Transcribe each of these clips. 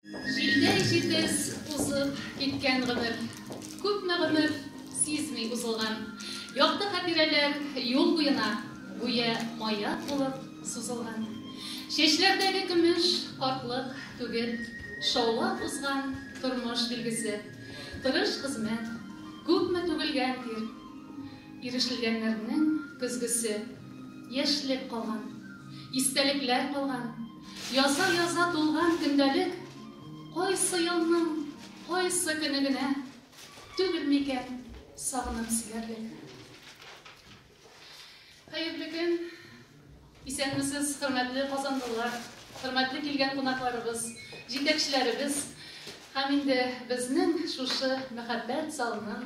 Җилдәй җитез узып киткән гомер. Күпме гомер сизми узылган. Якты хатирәләр юл буена гүя маяк булып сузылган. Чәчләрдәге көмеш картлык түгел, шаулап узган тормыш билгесе. Тырыш хезмәт, күпме түгелгән тир, ирешелгәннәрнең көзгесе. Яшьлек калган, истәлекләр калган. Яза-яза тулган көндәлек Кайсы елның кайсы көне генә Түгел микән сагынып сөярлек? Хәерле көн! Исәнмесез, хөрмәтле казанлылар, хөрмәтле килгән кунакларыбыз, җитәкчеләребез һәм инде безнең шушы мәхәббәт залының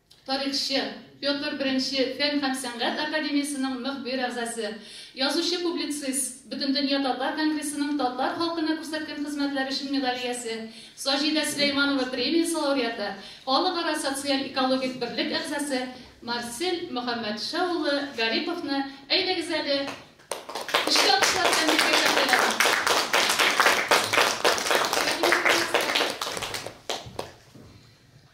тарихчы, Петр I фән һәм сәнгать академиясенең мөхбир әгъзасы, язучы-публицист, Бөтендөнья татар конгрессының татар халкына күрсәткән хезмәтләре өчен медаль иясе, Саҗидә Сөләйманова премиясе лауреаты, Халыкара социаль-экологик берлек әгъзасы Марсель Мөхәммәтша улы Гариповны, әйдәгез әле, көчле алкышлар белән безгә тәкъдир итик.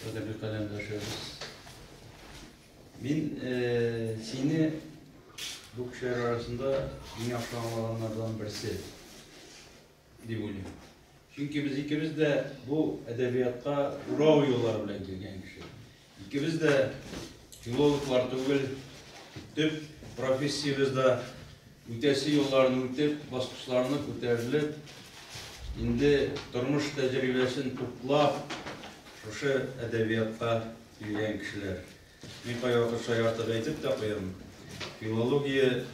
Кадерле каләмдәшебез. Мин сине бу кешеләр арасында иң яхшы аңлаганнардан берсе дип уйлыйм. Чөнки без икебез дә бу әдәбиятка урау юллары белән килгән кеше. Икебез дә филологлар түгел, төп профессиябез дә Үтәсе юлларны үтеп, баскычларны күтәрелеп, инде тормыш тәҗрибәсен туплап, шушы әдәбиятка килгән кешеләр. Мин кайвакыт шаяртып әйтеп тә куям, филология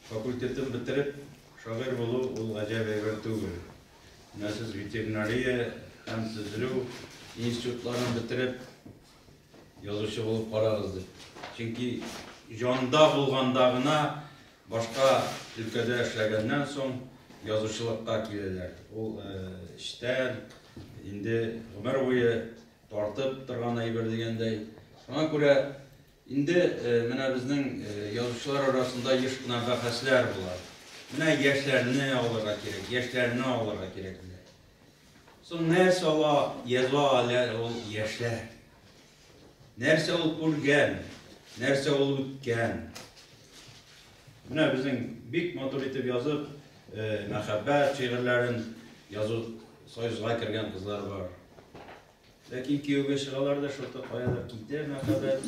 факультетын бетереп, шагыйрь булу ул гаҗәп әйбер түгел. Менә сез ветеринария һәм төзелү институтларын бетереп, Язучы булып карагыз дип. Чөнки җанда булганда гына башка өлкәдә эшләгәннән соң язучылыкка киләләр. Ул эчтән инде гомер буе тартып торган әйбер дигәндәй. Шуңа күрә инде менә безнең язучылар арасында еш кына бәхәсләр була. Менә яшьләрне алырга кирәк, яшьләрне алырга кирәк диләр. Соң нәрсә ала, яза аләр ул яшьләр? Нәрсә ул күргән, нәрсә ул үткән? Менә безнең бик матур итеп язып, мәхәббәт шигырьләрен язу союзга кергән кызлар бар. Ләкин кияүгә чыгалар да шуты каядыр китә мәхәббәт,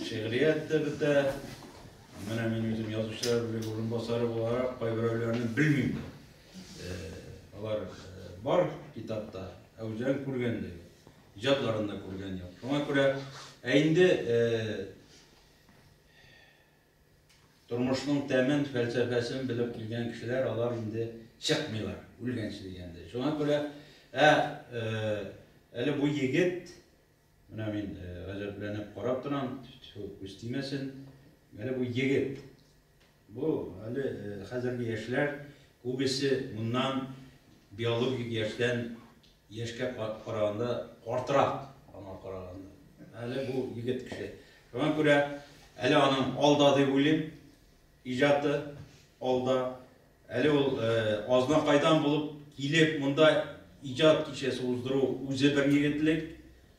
шигърият тә бетә. Менә мин үзем язучылар бүлеге урынбасары буларак, кайберәүләрне белмим. Алар бар китапта, ә үзләрен күргәндәй, иҗатларында күргән юк. Шуңа күрә, ә инде тормышның тәмен, фәлсәфәсен белеп килгән кешеләр, алар инде чыкмыйлар, үлгәнче дигәндәй. Шуңа күрә, ә әле бу егет Менә мин гаҗәпләнеп карап торам, тьфу, күз тимәсен. Әле бу егет. Бу әле хәзерге яшьләр күбесе моннан биологик яшьтән яшькә караганда картырак аңа караганда. Әле бу егет кеше. Шуңа күрә әле аның алда дип уйлыйм. Иҗаты алда. Әле ул азнакайдан булып килеп монда иҗат кичәсе уздыру үзе бер егетлек,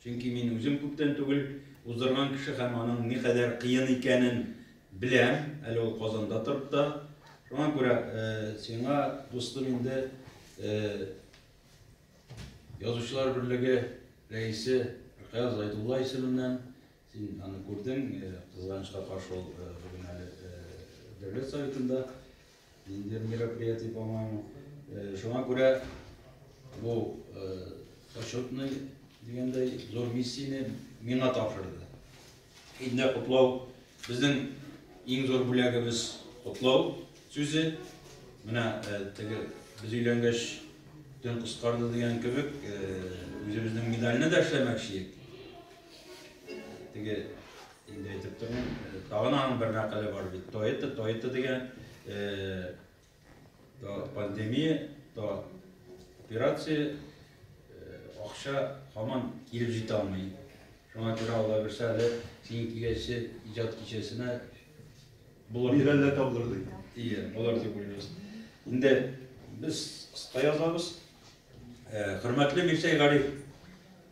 чөнки мин үзем күптән түгел уздырган кеше һәм аның никадәр кыен икәнен беләм, әле ул Казанда торып та. Шуңа күрә сиңа, дустым, инде Язучылар берлеге рәисе Ркаяз Зайдулла исеменнән Син аны күрдең, кызганычка каршы ул бүген әле Дәүләт Советында ниндидер мероприятие, по-моему. Шуңа күрә бу почетный дигәндәй зур миссияне миңа тапшырды. Инде котлау безнең иң зур бүләгебез котлау сүзе. Менә теге без өйләнгәч төн кыскарды дигән кебек, үзебезнең медальне дә эшләмәкче идек. Теге инде әйтеп торам, тагын аның бер мәкале бар бит. Тойта, Тойта дигән то пандемия, то операция, акча һаман килеп җитә алмый. Шуңа күрә Алла бирсә әле синең киләсе иҗат кичәсенә булыр. Бир әллә табылыр ди. Ие, булыр дип уйлыйбыз. Инде без кыска язабыз. Хөрмәтле Мирсәй Гариф,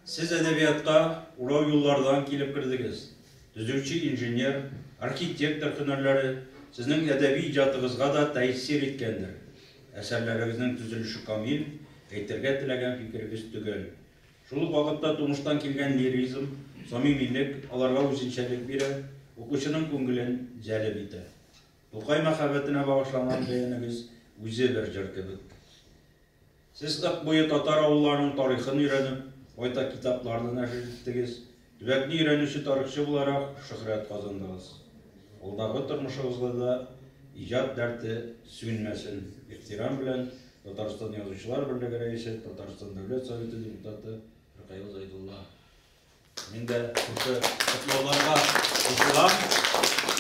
Сез әдәбиятка урау юллардан килеп кердегез. Төзүче, инженер, архитектор һөнәрләре Сезнең әдәби иҗатыгызга да тәэсир иткәндер. Әсәрләрегезнең төзелеше камил, әйтергә теләгән фикерегез төгәл. Шул ук вакытта тумыштан килгән лиризм, самимилек аларга үзенчәлек бирә, укучының күңелен җәлеп итә. Тукай мәхәббәтенә багышланган бәянебез үзе бер җыр кебек. Сез Ык буе татар авылларының тарихын өйрәнеп, байтак китапларны нәшер иттегез, төбәкне өйрәнүче тарихчы буларак шөһрәт казандыгыз. Алдагы тормышыгызда да иҗат дәрте сүнмәсен, ихтирам белән, Татарстан Язучылар берлеге рәисе, Татарстан Дәүләт Советы депутаты Ркаил Зәйдулла. Мин дә шушы котлауларга кушылам.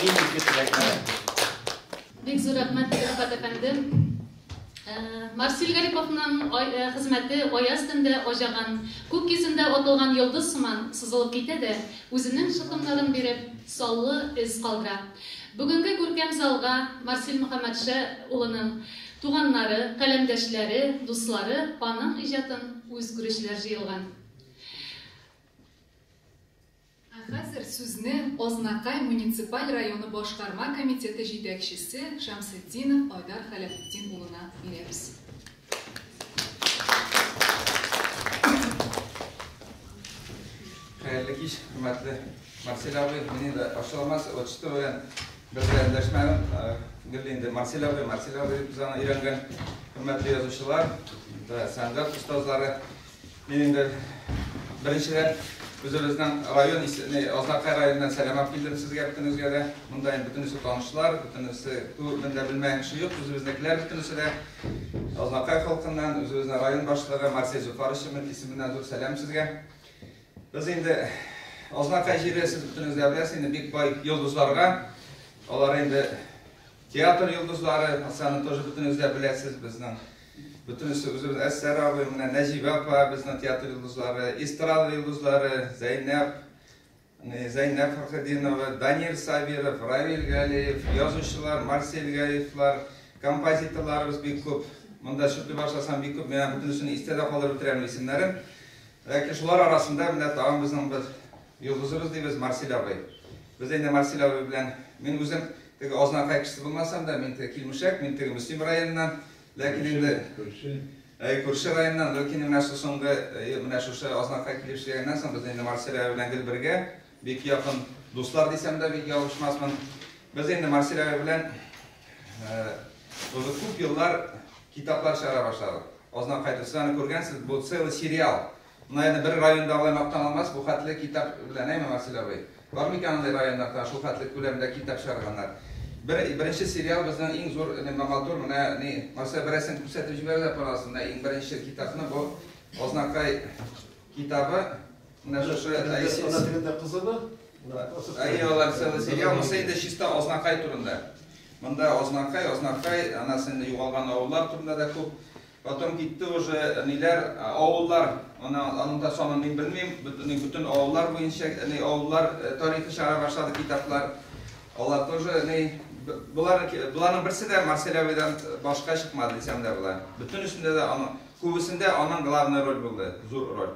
Иң изге теләкләр. Бик зур рәхмәт, Рифат әфәнде. Марсил Гариповның хезмәте аяз төндә аҗаган, күк йөзендә атылган йолдыз сыман сызылып китә дә, үзенең шытымнарын биреп, саллы эз калдыра. Бүгенге күркәм залга Марсил Мөхәммәтшә улының туганнары, каләмдәшләре, дуслары, аның иҗатын үз күрүчеләр җыелган. Ә хәзер сүзне Азнакай муниципаль районы башкарма комитеты җитәкчесе Шәмсетдинов Айдар Хәләфетдин улына бирәбез. Хәерле кич, хөрмәтле Марсель абый, мин инде ачыламас отчеты белән бер дә эндәшмәдем. Гел инде Марсель абый, Марсель абый дип без аны өйрәнгән. Хөрмәтле язучылар, сәнгать остазлары, Мин инде беренчедән үзебезнең район исеменә, Азнакай районыннан сәлам алып килдем сезгә бөтенегезгә дә. Монда инде бөтенесе танышлар, бөтенесе күбен дә белмәгән кеше юк. Үзебезнекеләр бөтенесе дә Азнакай халкыннан, үзебезнең район башлыгы Марсель Зөфар исеменнән зур сәлам сезгә. Без инде Азнакай җире, сез бөтенегез дә беләсез, инде бик бай йолдызларга. Алар инде театр йолдызлары, Оксана тоже бөтенегез дә беләсез, безнең Бөтенесе үзебез, Әсәр абый, менә Нәҗибә апа, безнең театр йолдызлары, эстрада йолдызлары, Зәйнәп, Зәйнәп Фәрхетдинова, Данир Сабиров, Равил Галиев, язучылар, Марсель Гаевлар, композиторларыбыз бик күп. Монда шундый башласам бик күп, менә бөтенесен истә дә калдырып бетерәм исемнәрен. Ләкин шулар арасында менә тагын безнең бер Йолдызыбыз дибез Марсель абый. Без инде Марсель абый белән, мин үзем теге Азнакай кешесе булмасам да, мин теге Килмешәк, мин теге Мөслим районыннан, ләкин инде Әй, күрше районнан, ләкин менә шул соңгы, менә шушы Азнакай килеп эшләгәннән соң без инде Марсель абый белән гел бергә, бик якын дуслар дисәм дә бик ялгышмасмын. Без инде Марсель абый белән уже күп еллар китаплар чыгара башладык. Азнакай, сез аны күргәнсез, бу целый сериал. Наверное, бер районда алай мактана алмас, бу хәтле китап белән, әйме, Васил абый? Бар микән андый районнарда шул хәтле күләмдә китап чыгарганнар? Бер, беренче сериал безнең иң зур лемба матур, менә ни, Марсель бер рәсем күрсәтеп җибәрәләр панелсын, менә иң беренче китапны, бу Азнакай китабы, менә шушы Ана телендә кызыды. Әйе, алар целый сериал, монысы инде чиста Азнакай турында. Монда Азнакай, Азнакай, ана сеңле югалган авыллар турында да күп. Потом китте уже ниләр, авыллар, ана аның да санын мин белмим, бөтен бөтен авыллар буенча ни авыллар тарихы чара башлады китаплар. Алар тоже ни болар боларның берсе дә Марселявидан башка чыкмады дисәм дә була. Бөтенесендә дә аның күбесендә аның главный роль булды, зур роль.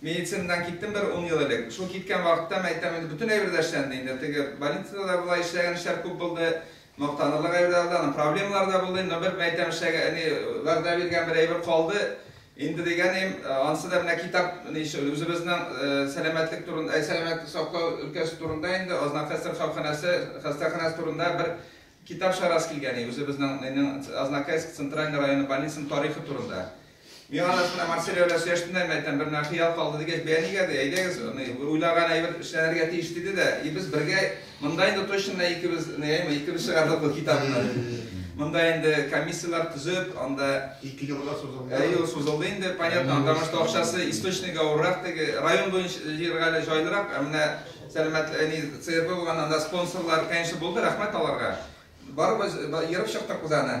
Медицинадан киттем бер ун ел элек. Шул киткән вакытта, мин әйтәм инде, бөтен әйбер дә эшләнде инде. Теге больницада да була, эшләгән эшләр күп булды. Мактанырлык әйберләр дә, аннан проблемалар да булды. Но бер, мин әйтәм, эшләгән, әни, вәгъдә биргән бер әйбер калды. Инде дигәнем, анысы да менә китап, ни өчен, үзебезнең сәламәтлек турында, әй, сәламәтлек саклау өлкәсе турында инде, Азнакай сырхауханәсе, хастаханәсе турында бер китап чыгарасы килгән иде, үзебезнең, нинең, Азнакайск центральный районы больницаның тарихы турында. Миңа да шунда Марсель белән сөйләштемдә, мин әйтәм, бер хыял калды дигәч, бәя нигә ди, әйдәгез, аны уйлаган әйбер эшләнергә тиеш диде дә, и без бергә монда инде точно икебез, әйме, икебез чыгардык бу китапны. Монда инде комиссияләр төзеп, анда ике елга сузылды. Ә ел сузылды инде, понятно, потому что акчасы источник авыррак теге район буенча җиргә әле җайлырак, ә менә сәламәт әни ЦРБ булган анда спонсорлар, конечно, булды, рәхмәт аларга. Барыбыз ерып чыктык без аны.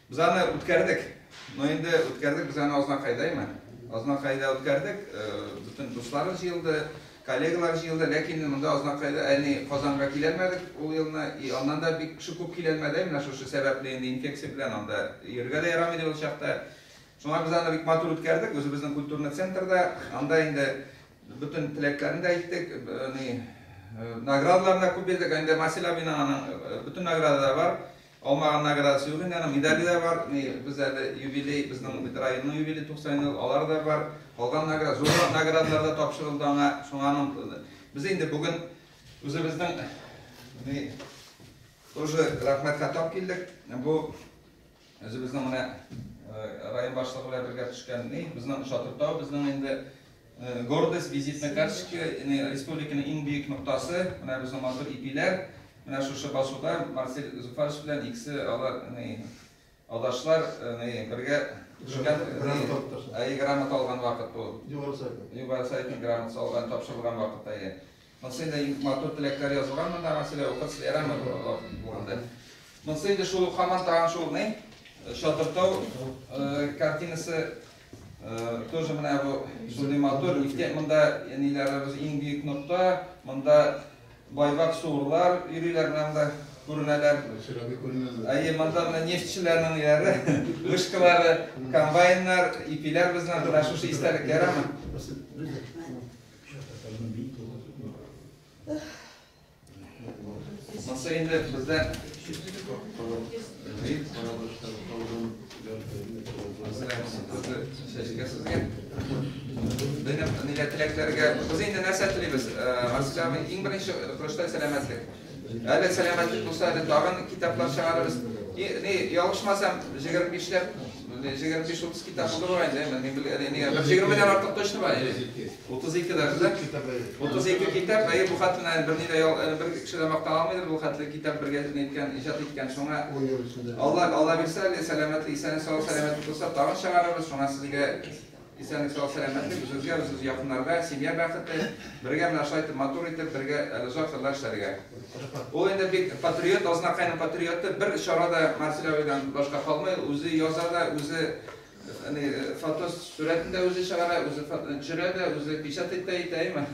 Без аны үткәрдек. Но инде үткәрдек, без аны Азнакайдаймы? Азнакайда үткәрдек. Бөтен дуслары җыелды, коллегалар җыелды. Ләкин монда Азнакайда әни Казанга киләлмәдек ул елны. И аннан да бик кеше күп киләлмәде. Менә шушы сәбәпле инде инфекция белән анда йөрергә дә ярамый иде ул чакта. Шуңа без аны бик матур үткәрдек. Үзебезнең культурный центрда. Анда инде бөтен теләкләрне дә әйттек. Ни наградаларны да күп бирдек. Инде Масил абина аның бөтен награда да бар. Алмаган наградасы юк инде, аның медале дә бар. Ни, без әле юбилей, безнең бит районның юбилее 90 ел, алар да бар. Калган награда, зуррак наградалар да тапшырылды аңа. Шуңа аның без инде бүген үзебезнең ни тоже рәхмәт хатап килдек. Бу үзебезнең менә район башлыгы белән бергә төшкән ни, безнең Шатыртау, безнең инде Гордость, визитная карточка, республиканың иң бөек ноктасы, менә безнең матур ипиләр, менә шушы басуда Марсель Зуфарович белән икесе алар, алдашлар, бергә төшкән, грамота алган вакыт бу. Югары сайтның грамотасы алган, тапшырылган вакыт, әйе. Монсы инде матур теләкләр язылган монда, аңа сөйләп укырсыз, ярамы бу алар булганда. Монсы инде шул ук хаман тагын шул ни? Чатыртау картинасы тоже менә бу шундый матур. Нихтә монда ниләребез иң бөек нокта, монда байбак суырлар йөриләр менә монда күренәләр. Әйе, монда менә нефтьчеләрнең яре, вышкалары, комбайннар, ипиләр безнең менә шушы истәлек ярамы? Маса инде бездә Сезгә сезгә Безнең нигә теләкләргә Без инде нәрсә телибез Марселя, иң беренче көрәштә сәламәтлек Әле сәламәтлек булса, әле тагын китаплар чыгарырбыз. Ни, ялгышмасам, 25 ләп, 25-30 китап булды бугай инде. Мин бил, әле нигә? 120 дән артык точно бар. 32 дә да. 32 китап, әйе, бу хатына бер ни дә бер кеше дә мактан алмыйдыр бу хәтле китап бергә иткән, иҗат иткән. Шуңа Алла, Алла бирсә, әле сәламәтлек, исән-сау сәламәтлек булса, тагын чыгарырбыз. Шуңа сезгә Исәнлек сау сәламәтлек үзегезгә үзегез якыннарга семья бәхете бергә менә шулай итеп матур итеп бергә әле озак еллар эшләргә ул инде бик патриот азнакайның патриоты бер чара да марсель абыйдан башка калмый үзе яза да үзе әни фото сурәтен дә үзе чыгара үзе төшерә дә үзе печатать та итә әйме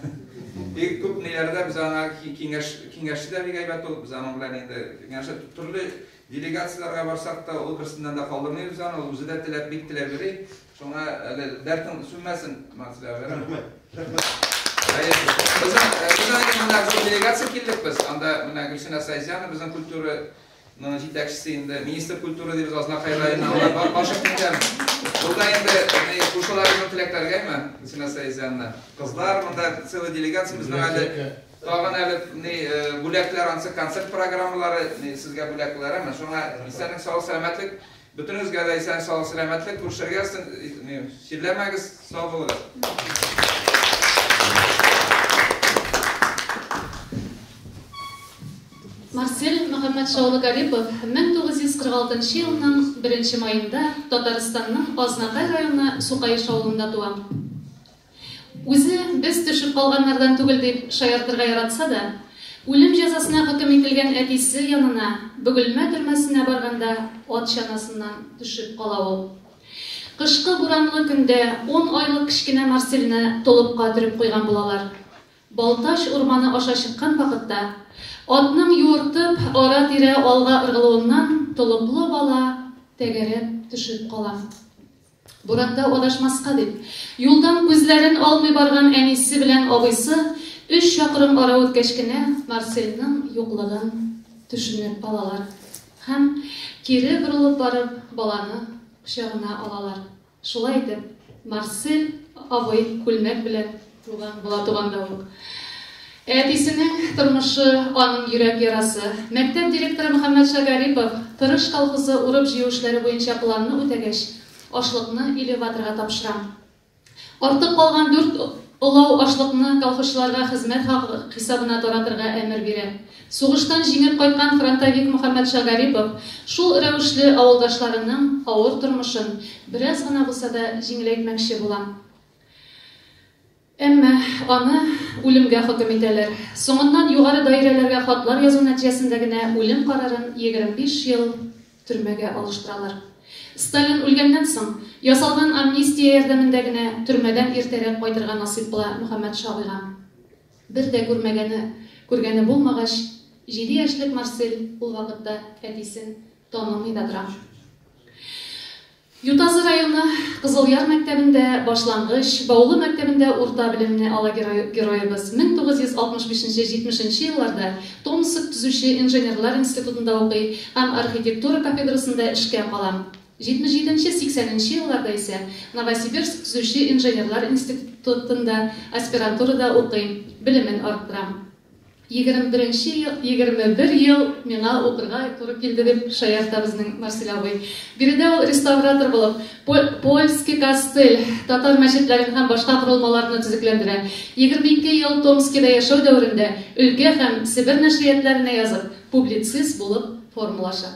бик күп ниләрдә без аңа киңәш киңәшче дә бик әйбәт ул без аның белән инде киңәшә төрле делегацияләргә барсак та ул берсеннән дә калдырмыйбыз аны ул үзе дә теләп бик теләп йөри Шуңа әле дәртең сүнмәсен, Максида. Рәхмәт. Рәхмәт. Безнең безнең менә зур делегация килдек без. Анда менә Гөлсинә Сайзяна безнең культура ну, җитәкчесе инде, министр культуры дибез, Азнакай районы, алар башып киткән. Буда инде кушаларының теләкләргәме, Гөлсинә Сайзяна. Кызлар, монда целый делегация безнең әле Тагын әле ни бүләкләр ансы концерт программалары сезгә бүләкләр әмма шуңа исәнлек сау сәламәтлек Бөтенегезгә дә исән сау сәламәтлек күршегез чирләмәгез сау булыгыз. Марсель Мөхәммәтша улы Гарипов 1946 елның 1 маенда Татарстанның Азнатай районы Сукаеш авылында туа. Үзе без төшеп калганнардан түгел дип шаяртырга яратса да, үлем җәзасына хөкем ителгән әтисе янына Бөгелмә төрмәсенә барганда ат чанасыннан төшеп кала ул. Кышкы буранлы көндә ун айлык кечкенә Марсельне толыпка төреп куйган булалар. Балтач урманы аша чыккан вакытта, атның юыртып ара-тирә алга ыргылуыннан толыплы бала тәгәрәп төшеп кала. Буранда адашмаска дип, юлдан күзләрен алмый барган әнисе белән абыйсы өч чакрым ара үткәч кенә Марсельның юклыгын төшенеп алалар һәм, кире борылып барып, баланы кочагына алалар. Шулай итеп, Марсель абый күлмәк белән Туган була туганда ук. Әтисенең тормышы, аның йөрәк ярасы. Мәктәп директоры Мөхәммәтша Гарипов Тырыш колхозы урып-җыю эшләре буенча планны үтәгәч, ашлыкны элеваторга тапшыра. Артып калган дүрт олау ашлыкны колхозчыларга хезмәт хакы хисабына таратырга әмер бирә. Сугыштан җиңеп кайткан фронтовик Мөхәммәтша Гарипов шул рәвешле авылдашларының авыр тормышын бераз гына булса да җиңеләйтмәкче була. Әмма аны үлемгә хөкем итәләр. Соңыннан югары даирәләргә хатлар язу нәтиҗәсендә генә үлем карарын 25 ел төрмәгә алыштыралар. Сталин үлгәннән соң, ясалган амнистия ярдәмендә генә төрмәдән иртәрәк кайтырга насыйп була Мөхәммәт Шагыйга. Бер дә күрмәгәне, күргәне булмагач, җиде яшьлек Марсель ул вакытта әтисен танымый да тора. Ютазы районы Кызылъяр мәктәбендә башлангыч, Баулы мәктәбендә урта белемне ала герой-героебыз. Мең тугыз йөз алтмыш бишенче, җитмеш нче елларда Томск төзүче инженерлар институтында укый һәм архитектура кафедрасында эшкә кала. Җитмеш җиденче, сиксән нче елларда исә Новосибирск төзүче инженерлар институ тында аспирантурада укый, белемен арттыра. Егерме беренче ел, егерме бер ел миңа укырга туры килде, дип шаярта безнең Марсель абый. Биредә ул реставратор булып, Польский кастель, татар мәчетләрен һәм башка корылмаларны төзекләндерә. Егерме ике ел Томскида яшәү дәверендә өлкә һәм Себер нәшриятләренә язып, публицист булып формалаша.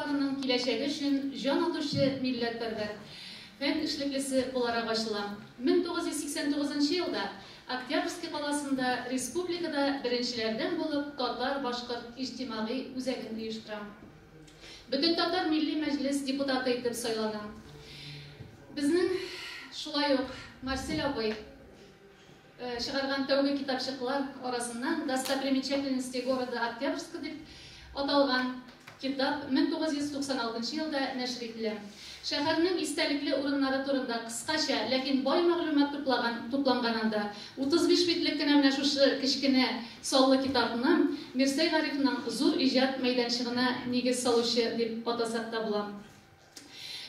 Татарстанның киләчәге өчен җан атучы милләтпәрвәр фән эшлеклесе буларак ачыла. 1989 нчы елда Октябрьский каласында республикада беренчеләрдән булып татар-башкорт иҗтимагый үзәген оештыра. Бөтентатар милли мәҗлес депутаты итеп сайлана. Безнең шулай ук Марсель абый. чыгарган тәүге китапчыклар арасыннан Достопримечательности города Октябрьска дип аталган китап 1996 елда нәшер ителә. Шәһәрнең истәлекле урыннары турында кыскача, ләкин бай мәгълүмат туплаган тупланган анда. 35 битлек кенә менә шушы кечкенә саллы китапны Мирсәй Гарифның зур иҗат мәйданчыгына нигез салучы дип атасак та була.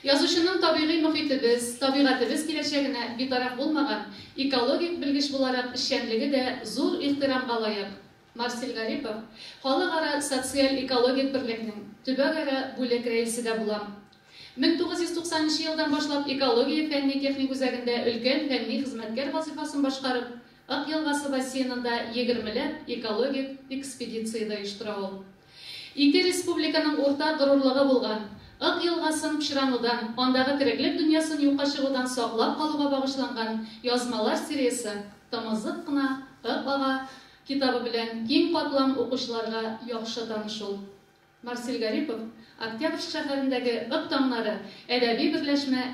Язучының табигый мохитебез, табигатебез киләчәгенә битараф булмаган экологик белгеч буларак эшчәнлеге дә зур ихтирамга лаек. Марсель Гарипов, Халыкара социаль-экологик берлекнең төбәгара бүлек рәисе дә булам. Мең тугыз йөз туксан нче елдан башлап экология фәнни-техник үзәгендә өлкән фәнни хезмәткәр вазыйфасын башкарып, Ык елгасы бассейнында егермеләп экологик экспедиция дә оештыра ул. Ике республиканың уртак горурлыгы булган Ык елгасын пычранудан, андагы тереклек дөньясын юкка чыгудан саклап калуга багышланган язмалар сериясе Тымызык кына Ык ага китабы белән киң катлам укучыларга яхшы таныш ул. Марсель Гарипов, Октябрьск шәһәрендәге Ык таңнары әдәби берләшмә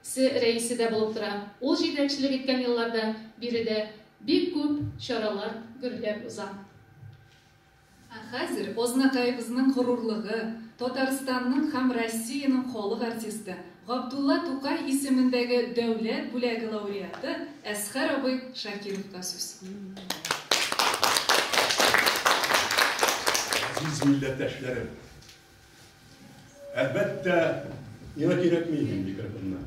се рәисе дә булып тора, ул җитәкчелек иткән елларда биредә бик күп чаралар гөрләп уза. Ә хәзер Азнакаебызның горурлыгы, Татарстанның һәм Россиянең халык артисты, Габдулла Тукай исемендәге дәүләт бүләге лауреаты Әсхәр абый Шакировка сүз. Газиз милләттәшләрем! Әлбәттә, миңа кирәкми инде микрофоннар.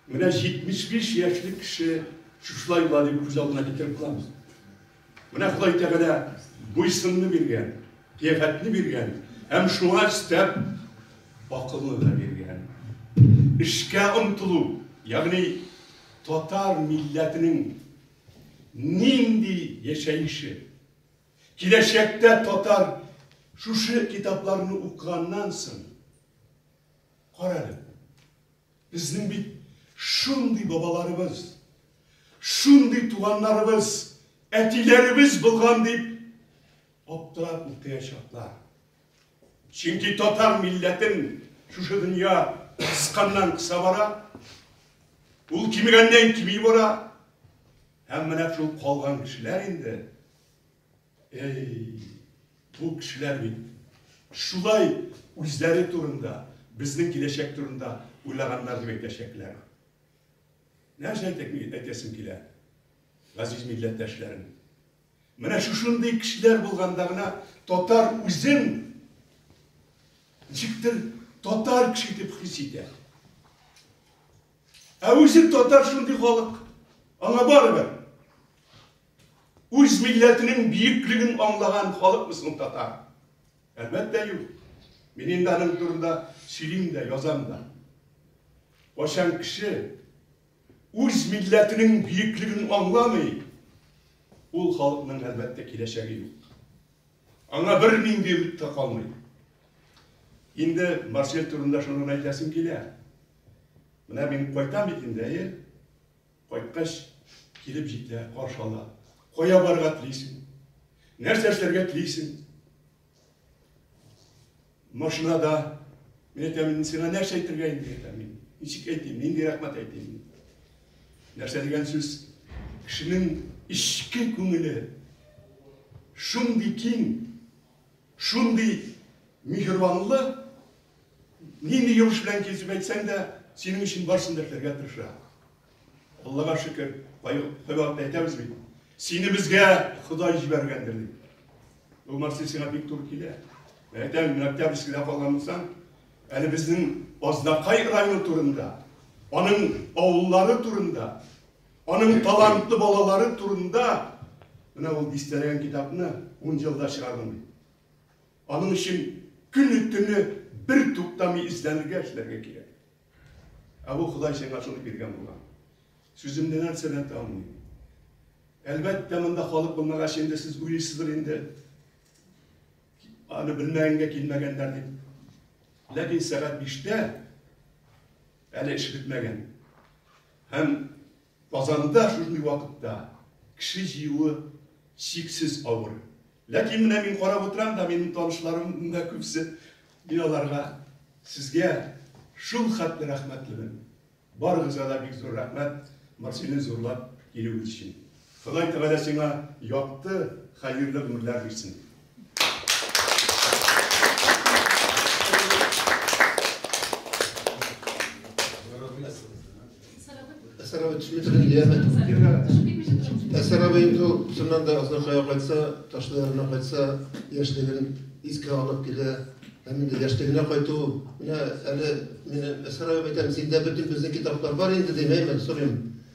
Менә 75 яшьлек кеше шушылай була дип күз алдына китереп кылабыз. Менә Ходай Тәгалә буйсынны биргән, кыяфәтне биргән һәм шуңа өстәп акылны да биргән. Эшкә омтылу, ягъни татар милләтенең нинди яшәеше? Киләчәктә татар шушы китапларны укыганнан соң Карале, безнең бит шундый бабаларыбыз, шундый туганнарыбыз, әтиләребез булган, дип аптырап утыячаклар. Чөнки татар милләтен шушы дөнья кысканнан кыса бара, ул кимегәннән кими бара, һәм менә шул калган кешеләр инде Әй, бу кешеләр бит шулай үзләре турында, безнең киләчәк турында уйлаганнар дип әйтәчәкләр. Нәрсә әйтәсем килә, газиз милләттәшләрем? Менә шушындый кешеләр булганда гына татар үзен ничектер татар кеше итеп хис итә. Ә үзе татар шундый халык, аңа барыбер. Үз милләтенең биеклеген аңлаган халыкмы соң татар? Әлбәттә юк. Мин инде аның турында сөйлим дә, язам да. Кайчан кеше үз милләтенең биеклеген аңламый, ул халыкның әлбәттә киләчәге юк. Аңа бер нинди өмет тә калмый. Инде Марсель турында шуны гына әйтәсем килә. Менә мин кайтам бит инде, әйе? Кайткач, килеп җитә, каршы ала. Кая барырга телисең? Нәрсә эшләргә телисең? Машинада, мин әйтәм, сиңа нәрсә әйтергә инде, әйтәм мин. Ничек әйтим, нинди рәхмәт әйтим? Нәрсә дигән сүз? Кешенең эчке күңеле шундый киң, Шундый миһербанлы, нинди йомыш белән килсеп әйтсәң дә, синең өчен барсын да эшләргә тырыша. Аллага шөкер, кайвакыт әйтәбез бит, сине безгә Ходай җибәргәндер дип. Бу Марсель сиңа бик туры килә. Әйтәм, мин Октябрьскида калган булсам, әле безнең Азнакай районы турында, аның авыллары турында Аның талантлы балалары турында менә ул дистәләгән китапны ун елда чыгардым ди. Аның өчен көне-төне бер туктамый эзләнергә, эшләргә кирәк. Ә бу Ходай сиңа шуны биргән булган. Сүземне нәрсә дә танмый. Әлбәттә, монда халык булмагач инде сез уйлыйсыздыр инде. Аны белмәгәнгә килмәгәннәр дип. Ләкин сәгать 5-тә әле эш бетмәгән. Һәм Казанда шушындый вакытта кеше җыюы чиксез авыр. Ләкин менә мин карап утырам да, минем танышларым монда күпсе, мин аларга сезгә шул хәтле рәхмәтлемен. Барыгызга да бик зур рәхмәт Марселне зурлап килүегез өчен. Ходай Тәгалә сиңа якты, хәерле гомерләр бирсен. Әсәрәбе төшмәсен, яме. Әсәрәбе инде шуннан да аздан кая кайтса, ташлы ярына кайтса, яшьлеген искә алып килә. Һәм инде яшьлегенә кайту, менә әле мин Әсәрәбе әйтәм, синдә бөтен безнең китаплар бар инде, димәймен, сорыйм.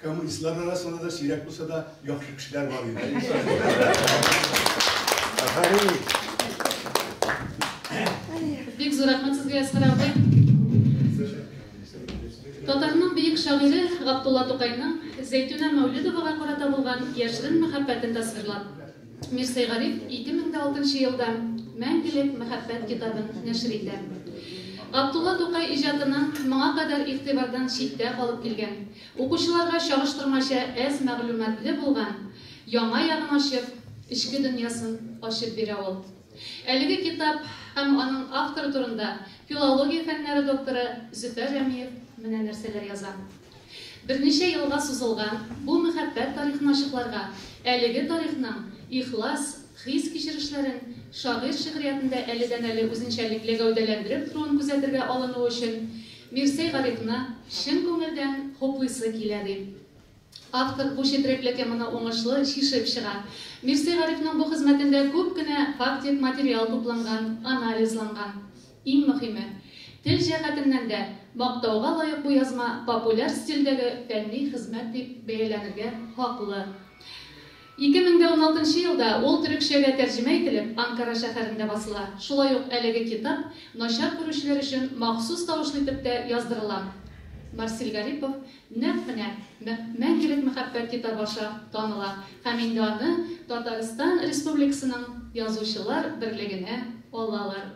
Коммунистлар арасында да сирәк булса да яхшы кешеләр бар иде. Бик зур рәхмәт сезгә Әсфәр абый. Татарның бөек шагыйре Габдулла Тукайның Зәйтүнә Мәүлидовага карата булган яшерен мәхәббәтен тасвирлап, Мирсәй Гариф 2006 елда Мәңгелек мәхәббәт китабын нәшер итә. Габдулла Тукай иҗатының моңа кадәр игътибардан читтә калып килгән Укучыларга чагыштырмача әз мәгълүматлы булган яңа ягын ачып, эчке дөньясын ачып бирә ул. Әлеге китап һәм аның авторы турында филология фәннәре докторы Зөфәр Рәмиев менә нәрсәләр яза. Берничә елга сузылган бу мәхәббәт тарихын ачыкларга, әлеге тарихның ихлас хис-кичерешләрен шагыйрь шигъриятендә әледән-әле үзенчәлекле гәүдәләндереп торуын күзәтергә алынуы өчен Мирсәй Гарифны чын күңелдән хуплыйсы килә, ди автор. Бу четерекле теманы уңышлы чишеп чыга. Мирсәй Гарифның бу хезмәтендә күп кенә фактик материал тупланган, анализланган. Иң мөхиме, тел җәһәтеннән дә мактауга лаек бу язма популяр стильдәге фәнни хезмәт дип бәяләнергә хаклы. Ике мең дә уналтынчы елда ул төрекчәгә тәрҗемә ителеп, Анкара шәһәрендә басыла. Шулай ук әлеге китап начар күрүчеләр өчен махсус тавышлы итеп тә яздырыла. Марсель Гарипов нәкъ менә Мәңгелек мәхәббәт китабы аша таныла һәм инде аны Татарстан Республикасының Язучылар берлегенә алалар.